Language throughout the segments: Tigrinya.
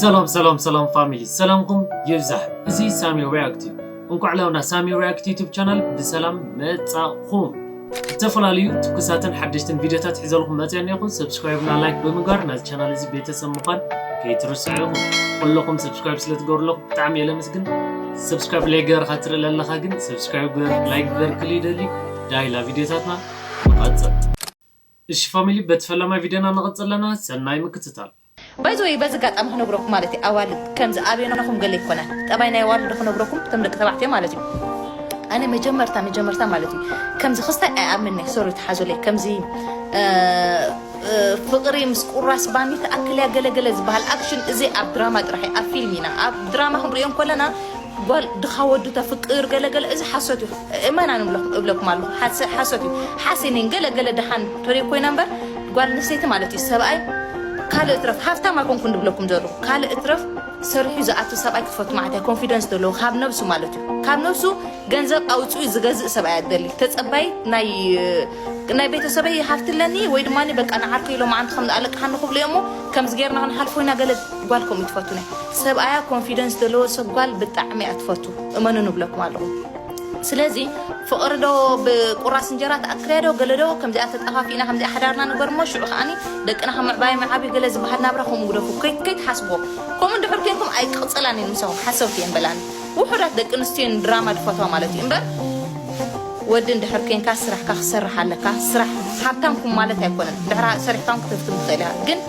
ሰላም ሰላም ሰላም ፋሚሊ ሰላምኩም ይብዛሕ እዚ ሳሚ ሪያክት እዩ እንኳዕ ላብና ሳሚ ሪያክት ዩቱብ ቻናል ብሰላም መጻኹም ዝተፈላለዩ ትኩሳትን ሓደሽትን ቪድዮታት ሒዘልኩም መፅኦ እኒኹ ሰብስክራይብና ላይክ ብምግባር ናዚ ቻናል እዚ ቤተሰብ ምዃን ከይትርስዑ ኢኹም ኩለኹም ሰብስክራይብ ስለትገብርለኹ ብጣዕሚ እየ ለመስግን ሰብስክራይብ ላይ ገበርካ ትርኢ ለለኻ ግን ሰብስክራይብ ግበር ላይክ ግበር ክል ይደሊ ዳይላ ቪድዮታትና ንቐፅል እሺ ፋሚሊ በቲ ፈላማይ ቪድዮና ንቅጽል ኣለና ሰናይ ምክትታል። ባይ ዘ ወይ በዚ ኣጋጣሚ ክነግረኩም ማለት ኣዋልድ ከምዚ ኣብዮናኹም ገለ ኣይኮነን ጠባይ ናይ ኣዋልድ ዶ ክነግረኩም እቶም ደቂ ተባዕትዮ ማለት እዩ ኣነ መጀመርታ መጀመርታ ማለት እዩ ከምዚ ክስታይ ኣይኣምንኒ ሶሪ ተሓዙለይ ከምዚ ፍቅሪ ምስ ቁራስ ባኒ ተኣክል እያ ገለገለ ዝበሃል ኣክሽን እዚ ኣብ ድራማ ጥራሕ ኣብ ፊልም ኢና ኣብ ድራማ ክንሪኦ እንከለና ጓል ድኻ ወዱ ተፍቅር ገለገለ እዚ ሓሶት እዩ እመና ንብለኩም እብለኩም ኣለኩ ሓሶት እዩ ሓሴነይን ገለ ገለ ደሓን ተሪር ኮይና እምበር ጓል ኣንስተይቲ ማለት እዩ ሰብኣይ ካልእ እትረፍ ሃፍታም ኣይኮንኩን ንብለኩም ዘለኩ ካልእ እትረፍ ሰሪሑ ዝኣቱ ሰብኣይ ክትፈቱ ማለት እያ ኮንፊደንስ ዘለዎ ካብ ነብሱ ማለት እዩ ካብ ነብሱ ገንዘብ ኣውፅኡ ዝገዝእ ሰብኣይ ኣደሊ ተፀባይ ናይ ናይ ቤተሰበይ ሃፍቲ ኣለኒ ወይ ድማ በቃ ንዓርከይ ኢሎም ዓንቲ ከም ኣለቅሓኒ ክብሉ እዮ እሞ ከምዚ ጌርና ክንሓልፎ ኢና ገለ ጓል ከምኡ ትፈቱ ናይ ሰብኣያ ኮንፊደንስ ዘለዎ ሰብ ጓል ብጣዕሚ እያ ትፈቱ እመኑ ንብለኩም ኣለኹ ስለዚ ፍቕሪ ዶ ብቁራስ እንጀራ ትኣክልያ ዶ ገለ ዶ ከምዚኣ ተጠፋፊእና ከምዚኣ ሓዳርና ንበር እሞ ሽዑ ከዓኒ ደቅና ከም ምዕባዮም ይዓብዩ ገለ ዝበሃል ናብራ ከምኡ ግደፉ ከይትሓስብዎ ከምኡ እንድሕር ኮንኩም ኣይክቕፅላን እየን ምሳኹም ሓሰውቲ እየን በላኒ ውሑዳት ደቂ ኣንስትዮ እየን ድራማ ድፈትዋ ማለት እዩ እምበር ወዲ እንድሕር ኮንካ ስራሕካ ክሰርሕ ኣለካ ስራሕ ሃብታም ኩን ማለት ኣይኮነን ድሕራ ሰሪሕካ እውን ክትህፍትም ትኽእል ኢኻ ግን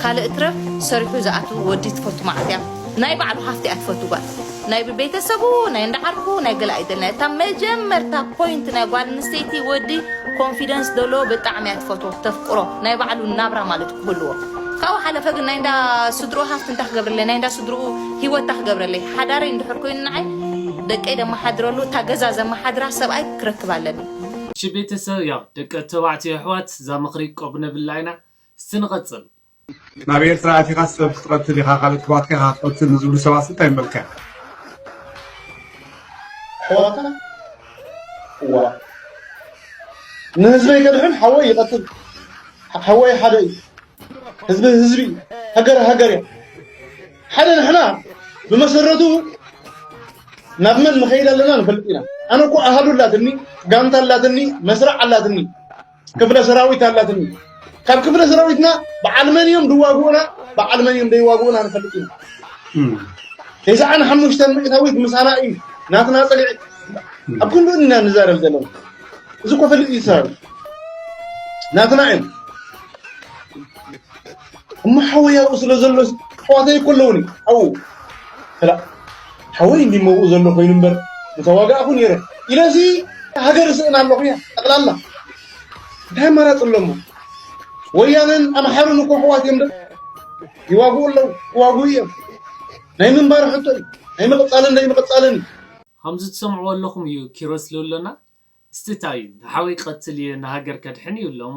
ካልእ ትረፍ ሰሪሑ ዝኣትው ወዲ ትፈቱ መዓት እያ ናይ ባዕሉ ሃፍቲ እያ ትፈቱ ጓል ናይ ብቤተሰቡ ናይ እንዳ ዓርኩ ናይ ገለ ኣይደልን እታ መጀመርታ ፖይንት ናይ ጓል ኣንስተይቲ ወዲ ኮንፊደንስ ዘለዎ ብጣዕሚ እያ ትፈትዎ ተፍቅሮ ናይ ባዕሉ ናብራ ማለት ክህልዎ ካብኡ ሓለፈ ግን ናይ እንዳ ስድርኡ ሃፍቲ እንታይ ክገብረለይ ናይ እንዳ ስድርኡ ሂወት እንታይ ክገብረለይ ሓዳረይ እንድሕር ኮይኑ ንዓይ ደቀይ ዘመሓድረሉ እታ ገዛ ዘመሓድራ ሰብኣይ ክረክብ ኣለኒ እሺ ቤተሰብ ያው ደቂ ተባዕትዮ የሕዋት ዛምኽሪ ቆብነብላ ኢና እስቲ ንቐጽል ናብ ኤርትራ ኣቲኻ ሰብ ክትቐትል ኢኻ ካልኦት ኣሕዋትካ ኢኻ ክትቐትል ንዝብሉ ሰባትሲ እንታይ ምበልካ? ኣሕዋትካ እዋእ ንህዝበይ ከድሕን ሓወይ ይቐትል ሓወይ ሓደ እዩ ህዝቢ ህዝቢ እዩ ሃገር ሃገር እያ ሓደ ንሕና ብመሰረቱ ናብ መን ንኸይድ ኣለና ንፈልጥ ኢና ኣነ እኮ ኣሃዱ ኣላትኒ ጋንታ ኣላትኒ መስርዕ ኣላትኒ ክፍለ ሰራዊት ኣላትኒ ካብ ክፍለ ሰራዊትና በዓል መን እዮም ድዋግኡና በዓል መን እዮም ደይዋግኡና ንፈልጥ ኢና ተስዓን ሓሙሽተን ሚእታዊት ምሳና እዩ ናትና ፀግዒ ኣብ ክንዱ ኢና ንዛረብ ዘለና እዚ ኮፈልጥ እዩ ሰራዊት ናትና እዮም እሞ ሓወይ ኣብኡ ስለ ዘሎ ኣሕዋተይ እኮ ኣለውኒ ኣብኡ ከላእ ሓወይ እንዲ መብኡ ዘሎ ኮይኑ እምበር ምተዋጋእኹ ነይረ ኢለሲ ሃገር ስእና ኣለኹ እያ ጠቕላላ እንታይ ኣማራፂ ኣለሞ ወያነን ኣምሓሩን እኮ ኣሕዋት እዮም ይዋግኡ ኣለዉ ክዋግኡ እዮም ናይ ምንባር ሕቶ እዩ ናይ ምቕፃልን ዘይምቕፃልን ከምዚ ትሰምዕዎ ኣለኹም እዩ ኪሮስ ልብለና እስቲ ታይ እዩ ንሓወይ ክቐትል እየ ንሃገር ከድሕን እዩ እሎሞ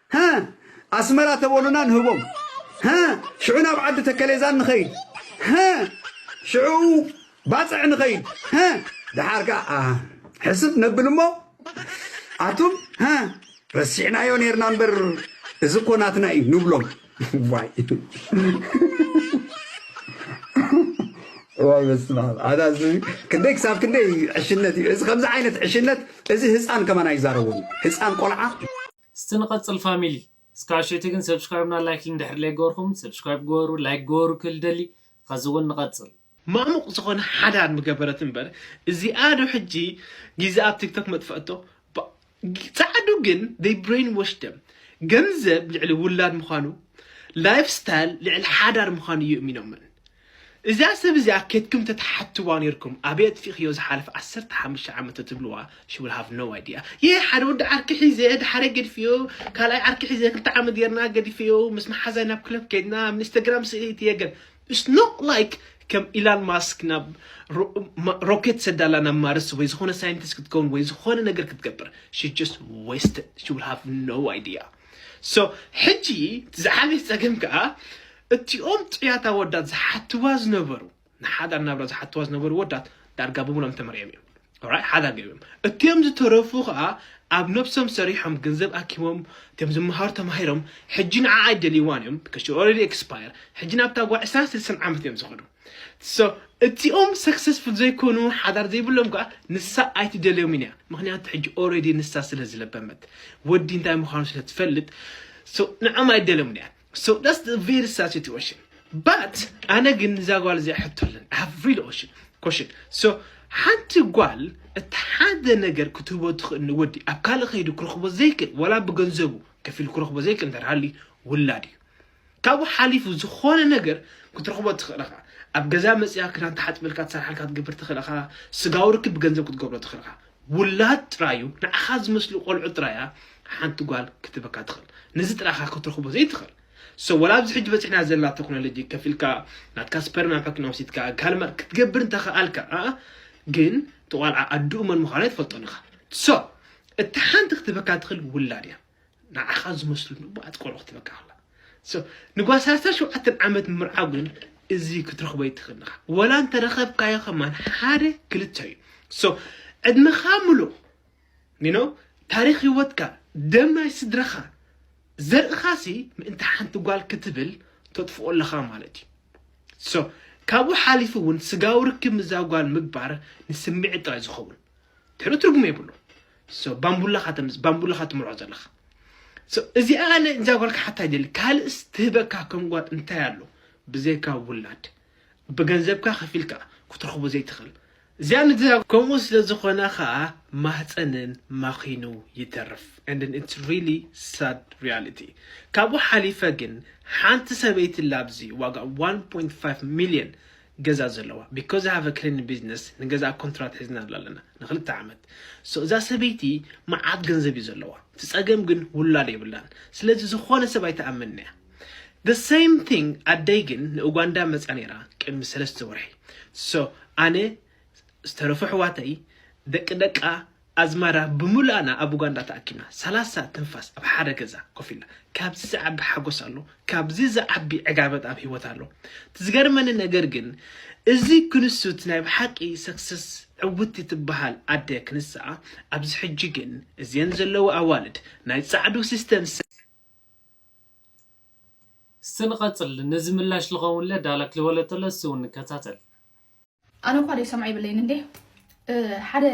ሀ ኣስመራ ተበሉና ንህቦም ሀ ሽዑ ናብ ዓዲ ተከሌዛን ንኸይድ ሀ ሽዑ ባጽዕ ንኸይድ ሀ ደሓር ከኣ ሕስብ ነብል እሞ ኣቱም ሀ ረሲዕናዮ ነርና እምበር እዚ እኮ ናትና እዩ ንብሎም ዋይ ዋይ በስመ ኣብ ኣታ ክንደይ ክሳብ ክንደይ ዕሽነት እዩ እዚ ከምዚ ዓይነት ዕሽነት እዚ ህፃን ከማን ኣይዛረቡን ህፃን ቆልዓ እስቲ ንቀጽል ፋሚሊ። እስከ ኣሸይቲ ግን ሰብስክራይብ እና ላይክ ልንድሕሪ ለይገበርኩም ሰብስክራይብ ግበሩ ላይክ ግበሩ ክል ደሊ ኸዚ ውን ንቀጽል። ማሙቅ ዝኮነ ሓዳር ምገበረት እንበር እዚኣ ዶ ሕጂ ጊዛ ኣብ ቲክቶክ መጥፈኣቶ ጻዓዱ ግን they brainwash them ገንዘብ ልዕሊ ውላድ ምኳኑ life style ልዕሊ ሓዳር ምኳኑ እዩ እሚኖመን እዛ ሰብ እዚኣ ኬድኩም ተትሓትዋ ኔርኩም ኣበይ ኣጥፊእክዮ ዝሓለፈ ዓሰርተ ሓሙሽተ ዓመት ተትብልዋ she will have no idea yeah ሓደ ወዲ ዓርኪ ሒዘ ድሓረይ ገድፌዮ ካልኣይ ዓርኪ ሒዘ ክልተ ዓመት ጌርና ገድፌዮ ምስ መሓዛይ ናብ ክለብ ከድና ኣብ ኢንስታግራም ስእሊ እትየ ገለ it's not like ከም ኢላን ማስክ ናብ ሮኬት ሰዳላ ናብ ማርስ ወይ ዝኾነ ሳይንቲስት ክትከውን ወይ ዝኾነ ነገር ክትገብር she just wasted she will have no idea So ሕጂ እቲ ዝዓበየ ጸገም ከኣ እቲኦም ጥዑያት ኣወዳት ዝሓትዋ ዝነበሩ ንሓዳር ናብራ ዝሓትዋ ዝነበሩ ወዳት ዳርጋ ብሙሎም ተመርዕዮም እዮም ኦራይ ሓዳር ገይሮም እቲኦም ዝተረፉ ከኣ ኣብ ነብሶም ሰሪሖም ገንዘብ ኣኪቦም እቲኦም ዝመሃሩ ተማሂሮም ሕጂ ንዓ ኣይደልይዋን እዮም because she already expire ሕጂ ናብታ ጓ 20 ስልሳን ዓመት እዮም ዝኸዱ So እቲኦም ሰክሰስፉል ዘይኮኑ ሓዳር ዘይብሎም ከኣ ንሳ ኣይትደልዮምን እያ ምክንያቱ ሕጂ ኦረዲ ንሳ ስለ ዝለበመት ወዲ እንታይ ምዃኑ ስለ ትፈልጥ so ንዕኦም ኣይደልዮምን እያ so that's the very sad situation but ኣነ ግን እዛ ጓል እዚኣ ሕቶ ኣለኒ I have really ocean question so ሓንቲ ጓል እቲ ሓደ ነገር ክትህቦ ትኽእል ንወዲ ኣብ ካልእ ከይዱ ክረኽቦ ዘይክእል ወላ ብገንዘቡ ከፊሉ ክረኽቦ ዘይክእል እንተሃልዩ ውላድ እዩ ካብኡ ሓሊፉ ዝኾነ ነገር ክትረኽቦ ትኽእል ኢኻ። ኣብ ገዛ መጺኣ ክዳን ትሓጽበልካ፣ ትሰርሓልካ፣ ክትገብር ትኽእል ኢኻ። ስጋዊ ርክብ ብገንዘብ ክትገብሮ ትኽእል ኢኻ። ውላድ ጥራይ እዩ፣ ንዓኻ ዝመስሉ ቆልዑ ጥራይ እያ ሓንቲ ጓል ክትህበካ ትኽእል። ነዚ ጥራይ ኢኻ ክትረኽቦ ዘይትኽእል። So ወላ ኣብዚ ሕጂ በጺሕና ዘለና ተክኖሎጂ ከፊልካ ናትካ ስፐርም ናብ ሕክምና ወሲድካ ካልእ መ- ክትገብር እንተኸኣልካ ኣኣ፣ ግን እቲ ቆልዓ ኣድኡ መን ምዃኑ ኣይትፈልጦን ኢኻ። So እቲ ሓንቲ ክትህበካ ትኽእል ውላድ እያ። ንዓኻ ዝመስሉ ንቡዓት ቆልዑ ክትበቅዕ ኣላ ሶ ንጓል ሰላሳ ሸውዓተ ዓመት ምምርዓው ግን እዚ ክትረኽቦ ኣይትኽእልን ኢኻ ወላ እንተረኸብካዮ ከማን ሓደ ክልተ እዩ ሶ ዕድመኻ ምሉእ ኒኖ ታሪክ ህይወትካ ደም ናይ ስድራኻ ዘርእኻሲ ምእንቲ ሓንቲ ጓል ክትብል ተጥፍኦ ኣለኻ ማለት እዩ ሶ ካብኡ ሓሊፉ እውን ስጋዊ ርክብ ምዛ ጓል ምግባር ንስምዒት ጥራይ ዝኸውን ትሕሉ ትርጉም የብሉ so ባምቡላኻ ተምጽእ ባምቡላኻ ትምርዖ ዘለኻ so እዚኣ ኣነ እዛ ጓል ክሓታ ይደሊ ካልእስ ትህበካ ከም ጓል እንታይ ኣሎ ብዘይካ ውላድ ብገንዘብካ ከፊልካ ክትረኽቦ ዘይትኽእል እዚኣ ንዛ ከምኡ ስለ ዝኾነ ከዓ ማህፀንን ማኺኑ ይተርፍ and then it's really sad reality ካብኡ ሓሊፈ ግን ሓንቲ ሰበይቲ ላብዚ ዋጋ 1.5 ሚሊዮን ገዛ ዘለዋ because I have a cleaning business ንገዛኣ ኮንትራት ሒዝናላ ኣለና ንክልተ ዓመት so እዛ ሰበይቲ መዓት ገንዘብ እዩ ዘለዋ እቲ ጸገም ግን ውላድ የብላን ስለዚ ዝኾነ ሰብ ኣይትኣምንን እያ the same thing ኣደይ ግን ንኡጋንዳ መጽያ ነይራ ቅድሚ ሰለስተ ወርሒ so ኣነ ዝተረፉ ኣሕዋተይ ደቂ ደቃ ኣዝማራ ብምሉኣና ኣብ ኡጋንዳ ተኣኪብና ሰላሳ ትንፋስ ኣብ ሓደ ገዛ ኮፍ ኢልና ካብዚ ዝዓቢ ሓጎስ ኣሎ ካብዚ ዝዓቢ ዕጋበት ኣብ ሂወት ኣሎ እቲ ዝገርመኒ ነገር ግን እዚ ክንሱት ናይ ብሓቂ success ዕውቲ ትብሃል ኣደ ክንስኣ ኣብዚ ሕጂ ግን እዝየን ዘለዋ ኣዋልድ ናይ ጻዕዱ system እስቲ ንቀጽል ነዚ ምላሽ ልከውንለ ዳላክ ልበሎ ተሎ እስቲ ውን ንከታተል። ኣነ እኳ ደይሰምዖ ይብለይን እንዴ ሓደ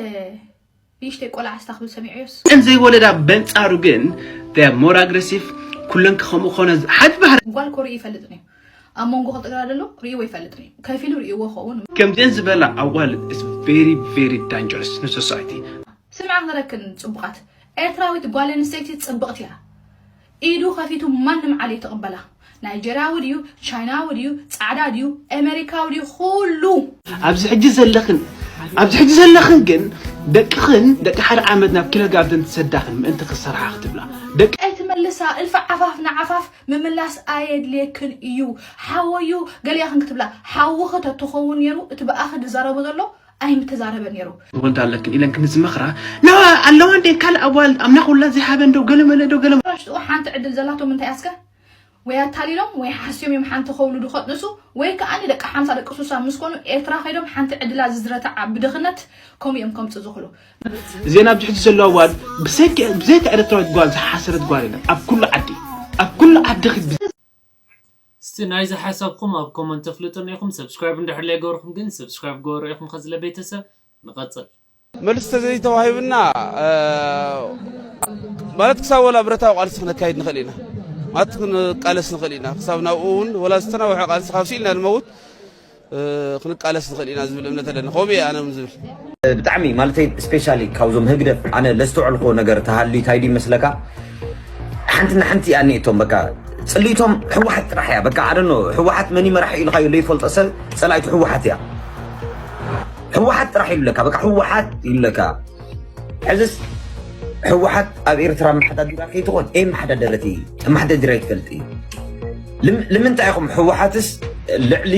ንእሽተይ ቆልዓ ስታ ክብል ሰሚዐዮስ እን ዘይወለዳ በንጻሩ ግን ሞር ኣግሬሲቭ ኩለን ክኸምኡ ክኾነ ሓድ ባህር ጓል ኮርኢ ይፈልጥን እዩ ኣብ መንጎ ክልተ ግራ ደሎ ርእይዎ ይፈልጥን እዩ ከፊሉ ርእይዎ ኸውን ከምዚአን ዝበላ ኣዋል ቬሪ ቬሪ ዳንጀረስ ንሶሳይቲ ስምዓ ክረክን ጽቡቓት ኤርትራዊት ጓል ኣንስተይቲ ጽብቕቲ እያ ኢዱ ከፊቱ ማንም ዓሌት ይቅበላ ናይጀርያዊ ድዩ ቻይናዊ ድዩ ጻዕዳ ድዩ ኤመሪካዊ ድዩ ኩሉ። ኣብዚ ሕጂ ዘለኽን ኣብዚ ሕጂ ዘለኽን ግን ደቅኽን ደቂ ሓደ ዓመት ናብ ኪለጋርደን ትሰዳኽን ምእንቲ ክሰርሓ ክትብላ ደቂ ኣይትመልሳ እልፊ ዓፋፍ ንዓፋፍ ምምላስ ኣየድልየክን እዩ ሓወዩ ገሊኣኽን ክትብላ ሓውኺ ተትኸውን ነይሩ እቲ ብኣኺ ዝዛረቡ ዘሎ ኣይምተዛረበ ነይሩ። ወንት ኣለክን ኢለን ክምዚ መኽራ ኣለዋ እንዴ ካልእ ኣጓል ኣምላኽ ውላ ዘይሃበን ዶ ገለመለ ዶ ገለ ሽጥኡ ሓንቲ ዕድል ዘላቶ ምንታይ ኣስከ ወይ ኣታሊሎም ወይ ሓስዮም እዮም ሓንቲ ከውልዱ ከጥንሱ ወይ ከዓ ንደቂ ሓምሳ ደቂ ሱሳ ምስ ኮኑ ኤርትራ ከይዶም ሓንቲ ዕድላ ዝዝረተዓ ብድኽነት ከምኡ እዮም ከምፅ ዝኽሉ ዜና ኣብዚ ሕጂ ዘለዋ ጓል ብዘይካ ኤርትራዊት ጓል ዝሓሰረት ጓል የለን ኣብ ኩሉ ዓዲ ኣብ ኩሉ ዓዲ እስቲ ናይዚ ሓሳብኩም ኣብ ኮመንት ኣፍልጡና ኢኩም ሰብስክራይብ እንድሕር ለይገበርኩም ግን ሰብስክራይብ ግበሩ ኢኩም ከዝለ ቤተሰብ ንቀጽል። መልሲ ተዘይተዋሂብና ማለት ክሳብ ወላ ብረታዊ ቃልሲ ክነካይድ ንኽእል ኢና ማለት ክንቃለስ ንኽእል ኢና ክሳብ ናብኡ እውን ወላ ዝተናውሐ ቃልሲ ካብ ስኢልና ንመውት ክንቃለስ ንኽእል ኢና ዝብል እምነት ኣለኒ ከምኡ እየ ኣነ ዝብል ብጣዕሚ ማለተይ ስፔሻሊ ካብዞም ህግደፍ ኣነ ለዝተወዕልኮ ነገር ተሃልዩ እንታይ ድዩ መስለካ ሓንቲ ንሓንቲ እያ ኒእቶም በቃ ፅልኢቶም ሕወሓት ጥራሕ እያ በቃ ኣደኖ ሕወሓት መን መራሒ ኢልካዮ ዘይፈልጦ ሰብ ፀላኢቱ ሕወሓት እያ ሕወሓት ጥራሕ ይብለካ በቃ ሕወሓት ይብለካ ሕዝስ ሕወሓት ኣብ ኤርትራ ኣመሓዳድራ ከይትኾን ኤ መሓዳደረት ኣመሓዳድራ ይትፈልጥ እዩ ልምንታይ ኢኹም ሕወሓትስ ልዕሊ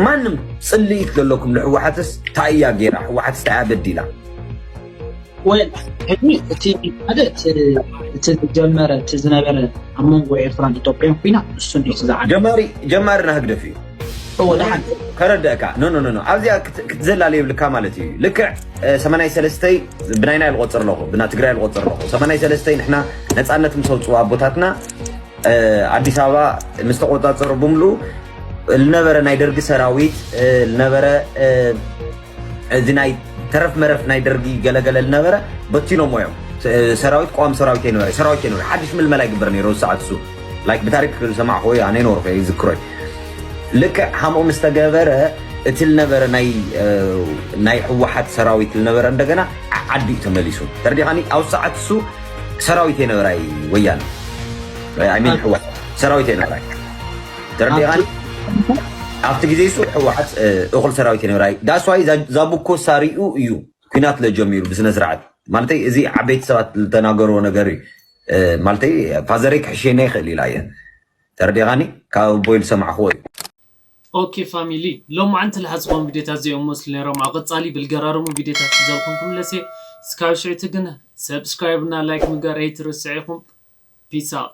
ማንም ፅልኢት ዘለኩም ንሕወሓትስ እንታይ እያ ገይራ ሕወሓትስ እንታይ እያ በዲላ ወይ ሕዚ እቲ ሓደ እቲ ዝጀመረ እቲ ዝነበረ ኣብ መንጎ ኤርትራን ኢትዮጵያን ኩና እሱ ጀማሪ ጀማሪ ናህግደፍ እዩ እወ ደሓን ከረድእካ ኖኖኖ ኣብዚኣ ክትዘላለ የብልካ ማለት እዩ ልክዕ ሰማናይ ሰለስተይ ብናይና ልቆፅር ኣለኹ ብና ትግራይ ልቆፅር ኣለኹ ሰማናይ ሰለስተይ ንሕና ነፃነት ምስ ኣውፅኡ ኣቦታትና ኣዲስ ኣበባ ምስ ተቆፃፀሩ ብምልኡ ዝነበረ ናይ ደርጊ ሰራዊት ዝነበረ እዚ ናይ ተረፍ መረፍ ናይ ደርጊ ገለገለ ዝነበረ በቲኖሞ እዮም ሰራዊት ቋሚ ሰራዊት ይነበረ ሰራዊት ይነበረ ሓድሽ ምልመላ ይግበር ነይሩ ሰዓት እሱ ላይክ ብታሪክ ዝሰማዕክዎ እዩ ኣነ ይነበርኩ ይዝክሮ እዩ ልክዕ ከምኡ ምስ ተገበረ እቲ ዝነበረ ናይ ህወሓት ሰራዊት ዝነበረ እንደገና ዓዲ እዩ ተመሊሱ ተርዲኻኒ ኣብ ሰዓት እሱ ሰራዊት የነበራይ ወያነ ሰራዊት የነበራይ ተረዲኻኒ ኣብቲ ግዜ እሱ ሕወሓት እኹል ሰራዊት የነበራ ዳስዋይ ዛቡኮ ሳሪኡ እዩ ኩናት ለጀሚሩ ብስነ ስርዓት ማለተይ እዚ ዓበይቲ ሰባት ዝተናገርዎ ነገር እዩ ማለተይ ፋዘረይ ክሕሸና ይኽእል ኢላ እየ ተረዲኻኒ ካብ ኣቦይ ዝሰማዕኽዎ እዩ ኦኬ ፋሚሊ ሎማዓንቲ ልሓ ዝኮኑ ቪድዮታት ዚኦም መስሉ ነይሮም ኣብ ቀጻሊ ብልገራርሙ ቪድዮታት ሒዘልኩም ክምለስ እየ ስካብ ሽዕቲ ግን ሰብስክራይብ እና ላይክ ምግባር ኣይትርስዕ ኢኩም ፒስ ኣውት።